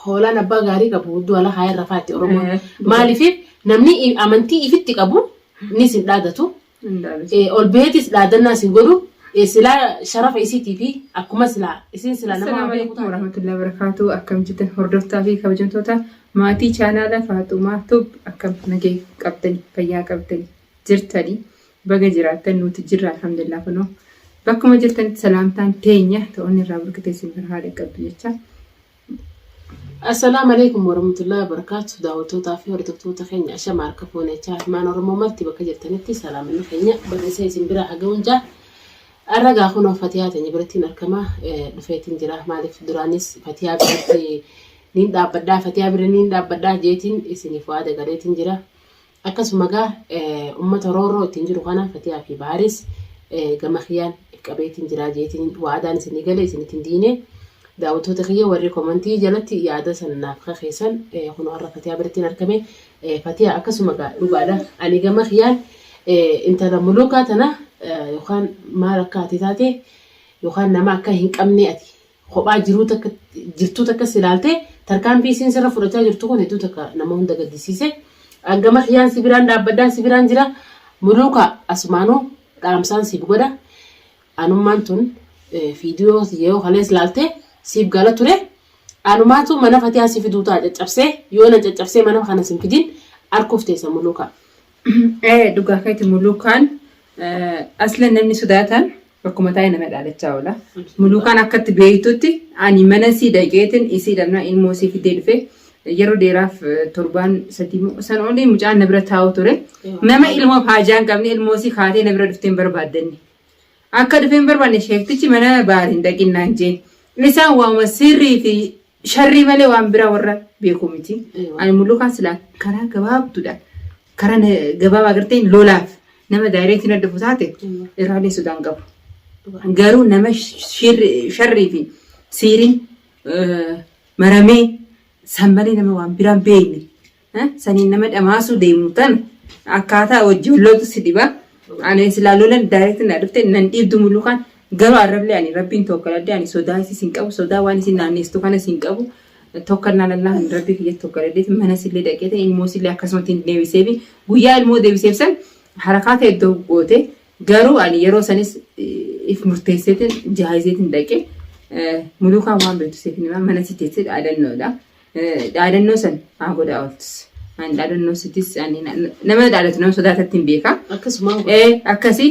Hoolaan abbaa gaarii qabu du'a lafa hin rafaatti Oromoon. Maaliif namni amantii ifitti qabu ni sin dhaadatu. Ol baheetis dhaadannaa sin godhu silaa sharafa isiitii fi akkuma silaa isin silaa nama Assalaamu alaikum warahmatullahi wabarakatuh. Akkam jirtan hordoftaa fi kabajamtoota maatii chaanaala Faaxumaa Tub akkam nagee qabdani fayyaa qabdani jirtani Baga jiraattan nuti jirra alhamdulillah kunoo bakkuma jirtanitti salaamtaan teenya ta'onni irraa burkitee isin bira haa dhaqqabdu jecha. Assalaamu alaikum warahmatullahi wabarakatuh daawwattootaa fi hordoftoota keenya ashama harka fuune chaa ilmaan oromoo marti bakka jirtanitti salaamanni keenya barreessee isin bira haga'uun jaa arragaa kunoo fatiyaa teenya birattiin arkamaa dhufeetiin jira maaliif duraanis fatiyaa biratti niin dhaabbadhaa fatiyaa bira niin dhaabbadhaa jeetiin isiniif waada galeetiin jira Akkasuma egaa ummata roorroo ittiin jiru kana Fatiyaa fi Bahariis gama kiyyaan qabeetiin jiraa jeetiin waadaan isinii galee isin ittiin diinee daawwattoota kiyya warri komantii jalatti yaada san naaf kakeessan kun har'a Fatiyaa birattiin argame Fatiyaa akkasuma egaa dhugaadha ani gama kiyyaan intala muluukaa tana yookaan maal akka ati taate yookaan nama akka hin qabnee ati kophaa jiruu takka jirtuu takkas ilaaltee tarkaanfii isiin sirra fudhachaa jirtu kun hedduu takka nama hunda gaddisiise. An gama kiyyaan si biraan dhaabbadhaan si biraan jira. Muluuka asumaanuu dhaamsaan siif godha. Anummaan tun eh, fiidiyoo yoo kalees laaltee siif gala ture. Anumaatu mana fatiyaa si fiduu ta'a caccabsee yoo na caccabsee mana kana sin fidin arkuuf teessa muluuka. Ee dhugaa keeti muluukaan aslan namni sodaatan Bakkuma taa'ee nama dhaalachaa oola. Muluukaan akkatti beektutti ani mana sii dhaqeetin isii dhabna ilmoo isii fiddee dhufe yeroo dheeraaf torbaan sadii moo san olii mucaan na bira taa'u ture. Nama ilmoo haajaa hin qabne ilmoo isii kaatee na bira dhufteen barbaaddanne. Akka dhufeen barbaanne sheektichi mana baariin dhaqinnaan jee. Isaan waama sirrii fi Sharrii malee waan biraa warra beekuu miti. Eewa. Ani mullukaan silaa karaa gabaabduudha. Karaa na- gabaabaa agartee lolaaf nama daayireetiin adda dhufu taate Eewa. irraalee sodaan qabu. Dhugaa. Garuu nama shirri- sharrii fi siiriin eh, maramee san malee nama waan biraan beekne Saniin nama dhamaasuu deemu tan akkaataa wajjin loltu si dhiba. Ani silaa lolan daayireekti na dhufte nan dhiibdu mulukaan garuu arrablee ani rabbiin tokkoladde ani sodaa isis hin qabu sodaa waan isin naanneessitu kanas hin qabu. Tokkannaa lallaa kan rabbii kiyya tokkoladdeeti mana sillee dhaqeetiin ilmoo sillee akkasumatti hin deebiseefi guyyaa ilmoo deebiseef san harakaa ta'e iddoo goote garuu ani yeroo sanis if murteesseetiin jaayizeetiin dhaqe mulukaan waan beektu seetiin mana si teessee dhaadannoodha. Dhaadannoo san haa godhaa ooltus. Ani dhaadannoo sittis ani na- na- nama dhaadatu nama sodaatatti hin beekaa. Akkasuma Ee akkasii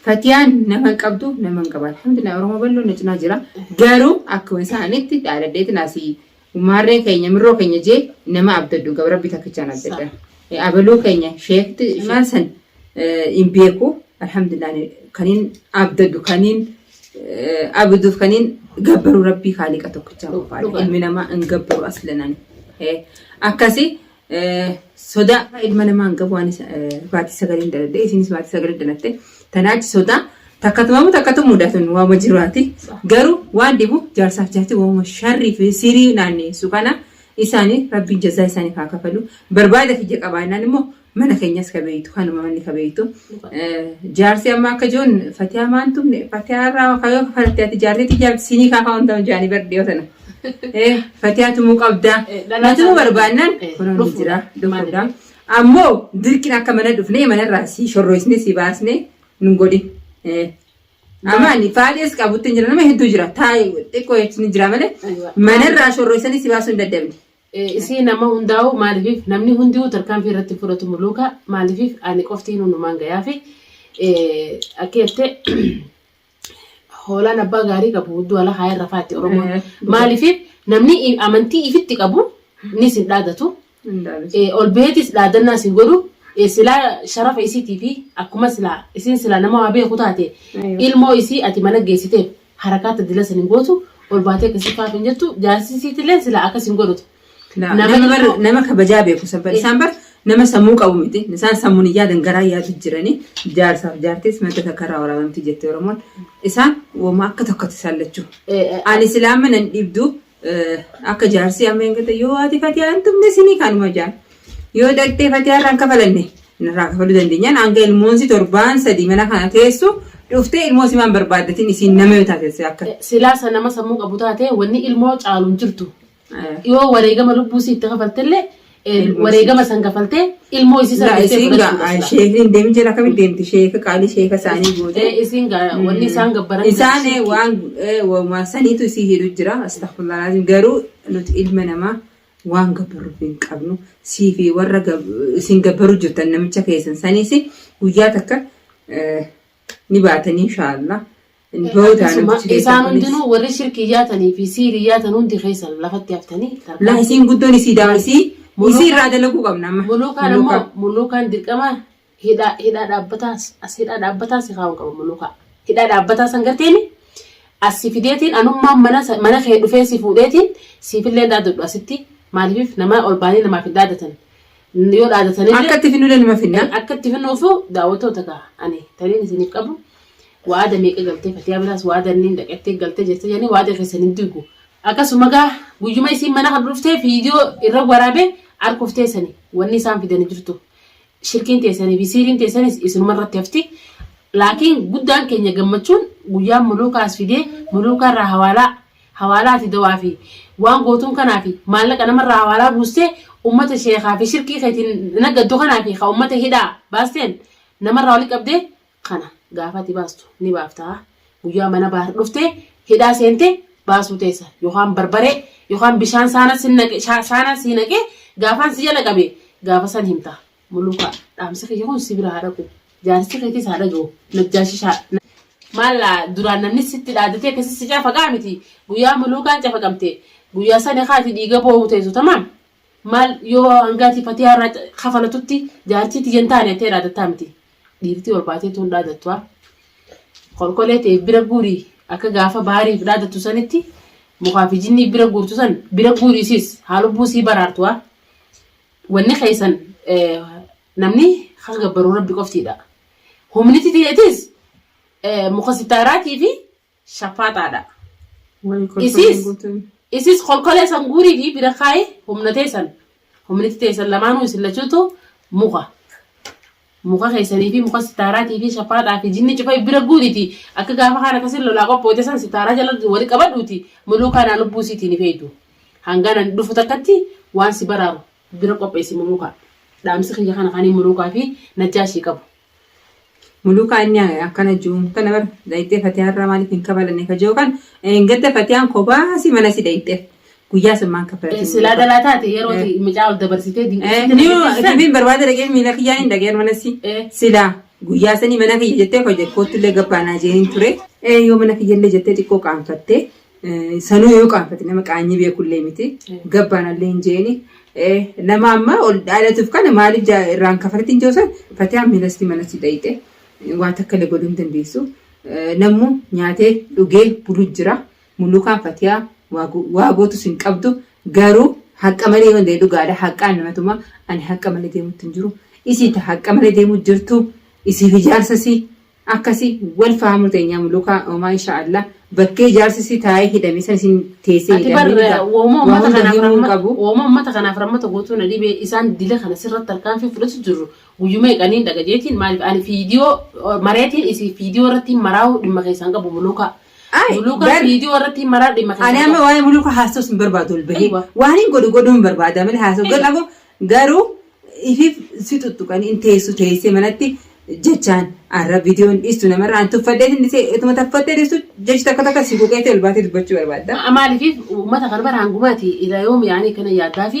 fatiyaan nama hin qabdu nama hin qaban. Alhamdulillah Oromoo bal'oo na cinaa jira. Garuu akkuma isaanitti dhaadadheetiin asii maarree keenya mirroo keenya jee nama abdadhu gabra rabbi takkichaan abdadha. Ee, Abaluu keenya sheekti maal san hin beeku alhamdulillah ani kaniin abdadhu kaniin eh, abduuf kaniin gabbaru rabbii kaaliqa tokkichaa qofaadha dhugaa. ilmi namaa hin gabbaru aslanani Eh, akkasi eh, sodaa ilma namaa hin qabu anis eh, baatii sagaliin daladhe isinis baatii sagaliin dalatte tanaachi sodaa takkatumamu takkatu mudatun waama jiraati garuu waan dhibu jaarsaaf jaarti waama sharrii fi sirii naanneessu kana isaanii rabbiin jazaa isaaniif haa kafalu barbaada kiyya qabaannaan immoo Mana keenyas ka beektu kanuma manni ka beektu. Jaarsi amma akka joon fatiyaa maan tumne fatiyaa irraa kayoo kanatti ati jaarsitti jaarti siinii kaa kaa'uun ta'u jaanii bar dhiyoo tana. Eh, Fatiyaa tumuu qabdaa. Eh, dhalaa Natuu isaanii- barbaannaan Eh, kunuun ni dhufuudha. jira. Dhufuudha. Maaliif? Ammoo dirqiin akka mana dhufnee manarraa si shorroisne si baasne nun godhin. Eh, Amma ani faadhees qabutti hin jira nama hedduu jira taa'e xiqqoo jechuun ni jira malee Aywa. manarraa shorroisanii si baasuu hin dadhabne. Isii nama hundaa'uu maalifiif namni hundi'uu tarkaanfii irratti fudhatu muluuka maalifiif ani qofti nunumaan gayaafi akki jette hoolaan abbaa gaarii qabu hudduu ala kaayee rafaa itti oromoon Eh, maalifiif namni i- amantii ifitti qabu ni sin dhaadatu Hundaanis. Eh, ol beetis dhaadannaa sin godhu Eh, silaa sharafa isiitii fi akkuma silaa isiin silaa nama waa beeku taate Ayyo. ilmoo isii ati mana geessiteef harakaa ta dila san hin gootu ol baatee akkasii faaf hin jettu jaarsi isiitillee silaa akkas hin godhutu. Laa, Nama Nama bar- tokko- nama kabajaa beeku san bar isaan bar nama sammuu qabu miti isaan sammuun hin yaadan garaa yaadu jiranii jaarsaaf jaartis madda takka irraa waraabamti jette oromoon isaan woma akka tokkotti isaan lachuu Eh, eh, ani silaama nan dhibdu Akka jaarsii amma hin galte yoo haati fatiyaa hin tumne sinii kanuma jaan. Yoo dhaqxee fatiyaa irraan kafalanne irraa kafaluu dandeenyaan hanga ilmoonsi torbaan sadii mana kana teessu dhuftee ilmoo simaan barbaaddatiin isiin nama yoo taatesse akka. Silaasa nama sammuu qabu taate wanni ilmoo caalu hin jirtu. Yoo wareegama lubbuu si itti kafaltillee wareegama san kafaltee ilmoo isii sana jettee fudhachuudha. Sheekni deemi jira akkamitti deemti sheeka qaalii sheeka isaanii goote. Isiin wanni isaan gabbaran. Isaan waan waan saniitu isii hidhu jira astagfirullah garuu nuti ilma namaa waan gabbaruuf hin qabnu sii fi warra isin gabbaru jirtan namicha keessan saniis guyyaa takka ni baatanii inshaallah. Hin boodaa Akkasuma namichi keessan isaan kunis. hundinuu warri shirkii yaatanii fi siirii yaatan hundi keessan lafatti haftanii Laa tarkaanfii isiin guddoon isii daa isii Muluuka- isii irraa dalaguu qabna amma. Muluukaan Muluuka. ammoo muluukaan dirqama hidhaa hidhaa dhaabbataa as hidhaa dhaabbataa si kaa'uu qaba muluukaa. Hidhaa dhaabbataa san garteeni as si fideetiin anummaan mana sa- mana kee dhufee si fuudheetiin siifillee hin dhaadadhu asitti maaliif namaa ol baanii namaaf hin dhaadatan. Yoo dhaadatanillee Akka itti finnulee nima finna. akka itti fannoo fi daawwattoota ta'a. Ani taniin isiniif qabu waada meeqa galtee fatiyaa biraas waada inni dhaqattee galtee jirti jedhanii waada keessan hin diigu. Akkasuma gaa guyyuma isiin mana kan dhuftee viidiyoo irra waraabee harkuuf teessani wanni isaan fidanii jirtu. Shirkiin teessanii fi siiriin teessanis isinuma irratti hafti. Laakiin guddaan keenya gammachuun guyyaan muluukaa as fidee muluukaa irraa hawaalaa hawaalaa ati dawaa fi waan gootuun kanaa fi maallaqa nama irraa hawaalaa buustee ummata sheekhaa fi shirkii keetiin naggaddu kanaa fi ka ummata hidhaa baasteen nama irraa wali qabde kana gaafa ati baastu ni baafta guyyaa mana baahar dhufte hidhaa seente baasuu teessa yookaan barbaree yookaan bishaan saana sin naqe sha- saana sii naqe gaafaan si jala qabe gaafa san himta Muluka dhaamsi kiyya kun si bira haa dhaqu. Jaarsi keetis haa dhagahu. Najjaashi shaa. Maal duraan namni sitti dhaadatee akkasii si cafaqaa miti. Guyyaa muluukaan cafaqamte guyyaa sani kaati dhiiga boohu teessu tamaam. Maal yoo hangaati fatiyaa irraa ca- kafalatutti jaartii tiyya hin taane jettee dhaadattaa miti. Dhiirtii ol baatee tuun dhaadattu haa. kolkolee ta'e bira guuri akka gaafa baariif dhaadattu sanitti mukaa fi jinnii bira guurtu san bira guuriisis haa lubbuu sii baraartu haa. Wanni keessan namni kan gabbaru rabbi qoftiidha. Humniti tiyeetis muka sitaaraatii fi shaffaaxaadha. Wayii kolkolee Isiis guutuun. isiis kolkolee san guurii fi bira kaayi humna teessan humniti teessan lamaanuu isin lachuutu muka Muka keessanii fi muka sitaaraatii fi shafaaxaa fi jinni cufa if bira guuriti, akka gaafa kaan akkasin lolaa qophooyte san sitaaraa jala wali qabadhuuti, muluukaa naa lubbuu isiitii hin ifeeytu. Hangaan ani dhufu takkatti waan si baraaru bira qopheeysi muluukaa. Dhaamsi kiyya kana kanii muluukaa fi najjaashii qabu. Muluukaa inni akkana ju'uun kana bar dhayxee fatiyaa irraa maaliif hin kabalanne ka ju'u kan, dheengadda fatiyaan kophaa isii mana isii dhayxeef. Guyyaa san maan kaffalatti? Silaa dhalaa taate yeroo Eh. ti- mucaa ol dabarsitee Eh, dinqisiisan. niyo dubbiin barbaada dhagee miila kiyyaa hin dhageen mana si. Eh. Sila guyyaa sanii mana kiyya jettee hojii koottillee gabbaanaa jeehin ture. Eh, Yoo mana kiyyallee jettee xiqqoo qaanfattee eh, sanuu yoo qaanfatte nama qaanyii beekullee miti Eh. gabbaanallee hin jeeni. Eh, Nama amma ol dhaalatuuf kana maaliif jaa- irraan kafalatti hin joosan fatiyaa miilastii mana si dhayite waan takka illee godhuu hin dandeessu. Eh, Namuu nyaatee dhugee buluu jira. Mulukaan fatiyaa waa gootus hin qabdu garuu haqqa malee yoo ta'e dhugaadha haqqaan nama tuma ani haqqa malee deemutti hin jiru isii ta haqqa malee deemuu jirtu isii fi jaarsasii akkasi wal fahamuu teenyaa mulukaa omaa insha Allah bakkee jaarsasii taa'ee hidhame san isin teessee Ati bar hidhamee dhugaa wooma waa ummata hunda kanaaf himuu hin rahma qabu wooma ummata kanaaf rahmata gootuu na dhibe isaan dila kana sirratti tarkaanfii fudhatu jirru guyyuma eeqaniin dhaga jeetiin maaliif ani fiidiyoo mareetiin isii fiidiyoo irratti hin maraa'u dhimma keessaan qabu mulukaa Ay, Muluuka bar- viidiyoo irratti hin maraa dhimma Ani amma waa'ee muluuka haasofsiis hin barbaadu ol bahee. Aywa. Waan hin godhu godhuu hin barbaada malee haasoo Aywa. godha koo garuu ifiif si tuttuqan hin teessu teessee manatti jechaan arra viidiyoon dhiistu namarraa hin tuffadhee hin dhisee ituma taffattee dhiistu jechi takka takka si quuqeetti ol baatee dubbachuu barbaadda. maaliif uummata kana bara hangumaati irraa yoom yaanii kana yaadaa fi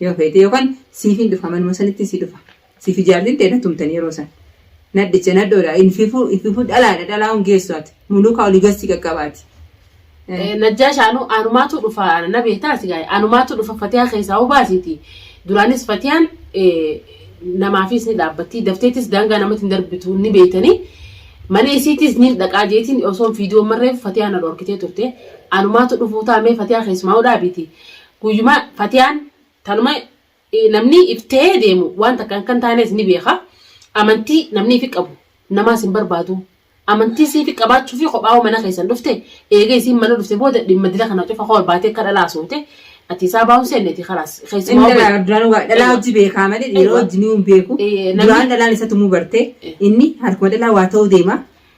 Yoo feete yookaan siifin dhufa manuma sanitti si dhufa. Siifi jaartin tee na tumtani yeroo san. Nadhicha nadhoodha infifu ififu dhalaadha dhalaa'uun geessu ati. Muluukaa oli gassi qaqqaba ati. Najjaash anu anumaatu dhufa na beektaa si gaa'e anumaatu dhufa fatiyaa keessaa hoo baasiiti duraanis fatiyaan namaafiis ni dhaabbattii dafteetis daangaa namatti hin darbitu ni beektanii mana isiitiis ni dhaqaa jeetiin osoon fiidiyoo marreef fatiyaa na dhorkitee turte anumaatu dhufuu taamee fatiyaa keessumaa hoo dhaabiiti Guyyuma Fatiyaan tanuma namni if ta'ee deemu waan takka akka hin taanes ni beeka. Amantii namni ifi qabu namaas hin barbaadu. Amantii siifi qabaachuufi kophaa'uu mana keessan dhufte eega isiin mana dhufte booda dhimma dila kana cufa koo baatee akka dhalaa soote ati isaa baa'uun seenneti kalaas Inni keessumaa dhalaa obbo- duraan waa- dhalaa Eeywa. hojii beekaa malee dhiiroo Eeywa. wajjin hin beeku. Ee, namni- Duraan dhalaan isa tumuu barte. Inni harkuma dhalaa waa ta'uu deema.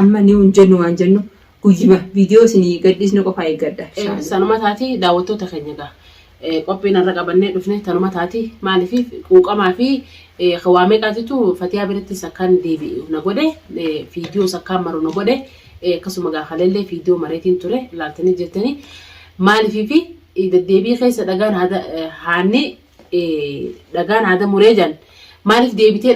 Amma ni hin jennu waan jennu guyyuma viidiyoo isinii gadhiisnu qofaa eeggadha. Eh, sanuma taati daawwattoota keenya gaa Eh, qophiin har'a qabannee dhufne tanuma taati maaliif quuqamaa fi eh, waa meeqaatitu fatiyaa birattis akkaan deebi'u na godhe eh, fiidiyoos akkaan maru na godhe eh, akkasuma gaa haleellee fiidiyoo mareetiin ture laaltanii jettanii maaliif fi eh, deddeebii keessa dhagaan haada- eh, haanni dhagaa naada muree jan maaliif deebitee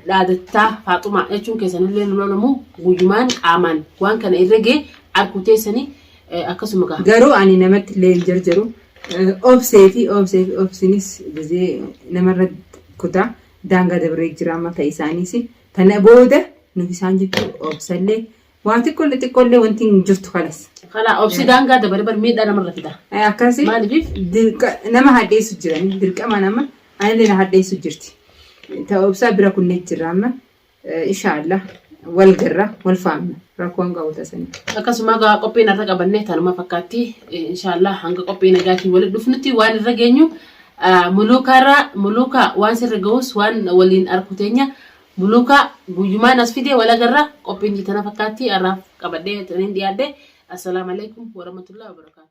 dhaadattaa faaxumaa jechuun keessanillee nu lolamu guyyumaan qaamaan waan kana irra gee arguu teessanii akkasuma gaha. Garuu ani namatti illee hin jarjaru. Obsee fi obsee fi obsinis gizee namarra kutaa daangaa dabree jira amma ta'e isaaniis. Kana booda nuti isaan jechuu obsallee Waa xiqqoolle xiqqoolle wanti hin jirtu kalas. Kana obsi daangaa dabale bar miidhaa namarra fida. Eh, Akkasi Maaliif? dirqa- nama hadheessu jirani dirqama nama anillee na hadheessu jirti. Ta'u obsaa bira kunnee jirra amma eh, inshaallah wal garra wal faamna rakkoon qabu tasanii. Akkasuma egaa qophiin har'a qabanne tanuma fakkaatti Eh, inshaallah hanga qophii nagaatiin walitti dhufnutti waan irra geenyu ah, muluukaarraa muluukaa waan sirra ga'us waan waliin arku teenya Muluka guyyumaan as fide wal agarra qophiin tana fakkaatti har'aaf qabadhee tanin dhiyaadhe. Assalaamu alaikum warahmatullahi wabarakatuh.